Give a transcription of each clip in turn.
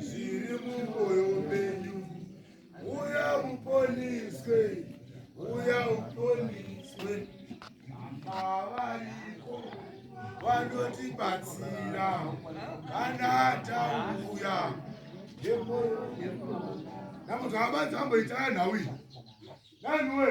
zviri mumwoyo menyu uya uponiswe uya uponiswe avariko vanotibatsira kana tauya namuti hama dzamboitaa nhau iyi naniwe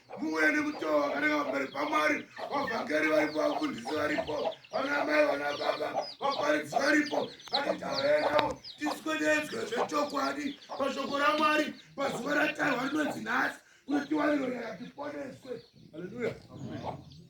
Muwe nemutoo wakanaka pamberi pamwari vavhangeri varipo vafundisi varipo vana mai vana baba vaparidzi varipo vakataurei navo tiswededzwe zvechokwadi pashoko ramwari pazuva ratarwa rinonzi nhasi kuti tiwaniro nyaya tiponeswe haleluya